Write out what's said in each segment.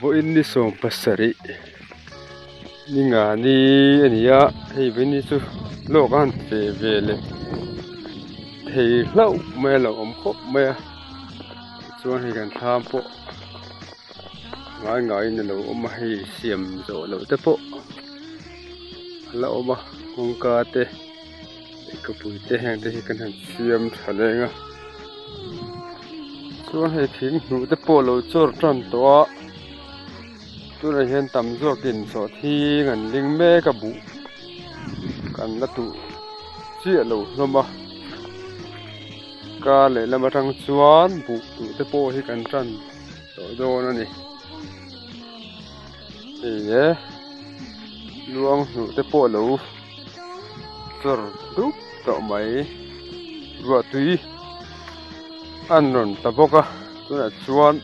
Vawiin ni sawm pasarih ni ngani a ni a hei vawiin chu lawk a han pe ve leh thei hlauh mai a lo awm khawp mai a tichuan hei kan thlam pawh ngai ngaiin a lo awm a hei siam zawh loh te pawh. a la awm a kawngka te leh kapui te heng te hi kan han siam thla leng a chuan hei thing hnuh te pawh lo chawr tan tawh a tunah hian tam zawk in chaw thing an ding mek a buh kan la tuh chiah lo hlawm a kar leh lam atang chuan buh tuh te pawh hi kan tan tawh dawn a ni. Eia luang hnuh te pawh lo chawr dup tawh mai ruahtui an rawn ta bawk a tunah chuan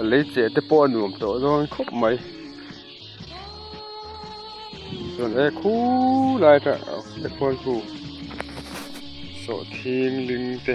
a lei cheh te pawh a nuam tawh dawn khawp mai chuan e khu lai atang te khawl chu sawhthing ling te.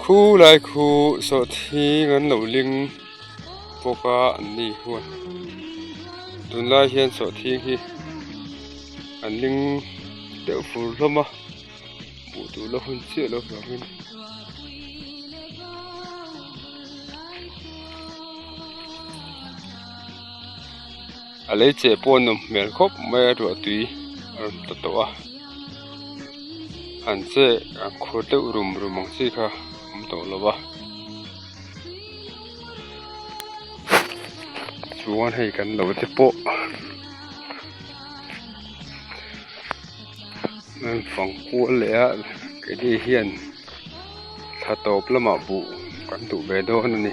Khu lai khu sawhthing an lo ling bawk a an ni huan tun lai hian sawhthing hi an ling deuh fur hlawm a hmuh tur la hun chiah lo vang in A lei che pawh a nawm hmel khawp mai a ruahtui a rawn ta tawh a an che an khur deuh rum rum ang chi kha awm tawh lo a chuan hei kan lo te pawh heng fang kual leh a ke te hian tha tawp lamah buh kan duh ve dawn a ni.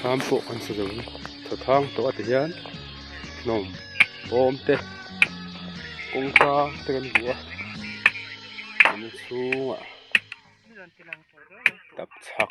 Thlam pawh kan sa zawng tha thang tawh a ti hian hnawm bawm te kawngka te kan hmu a an chhungah tak chhak.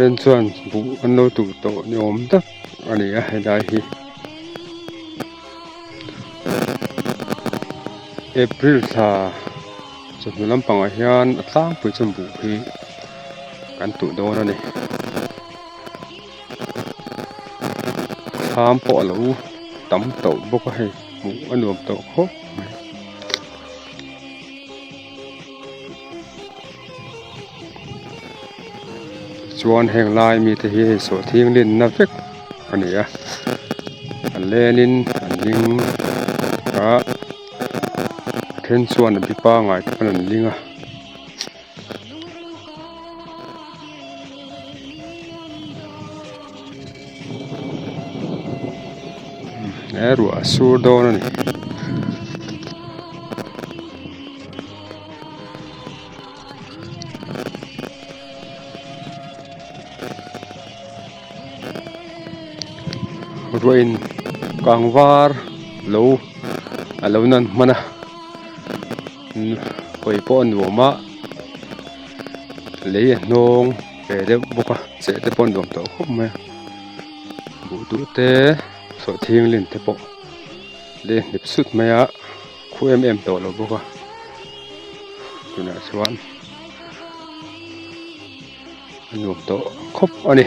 Then chuan buh an lo tuh tawh ni awm tak a ni a helai hi April thla chawhnu lampangah hian a tlangpui chuan buh hi kan tuh dawn a ni thlam pawh a lo tam tawh bawk a hei buh a nuam tawh khawp mai. chuan heng lai mi te hi hei sawh thing lin na vek a ni a a len in an ding a a then chuan a bi pangai tak in an ding a. he ruah a sur dawn a ni. ruah in kang var lo a lo nan hman a khawi pawh a nuam a lei a hnawng. pe deuh bawk a cheh te pawh a nuam tawh khawp mai a buh duh te sawi thinglin te pawh leh hnip sut mai a khu em em tawh lo bawk a tunah chuan a nuam tawh khawp a ni.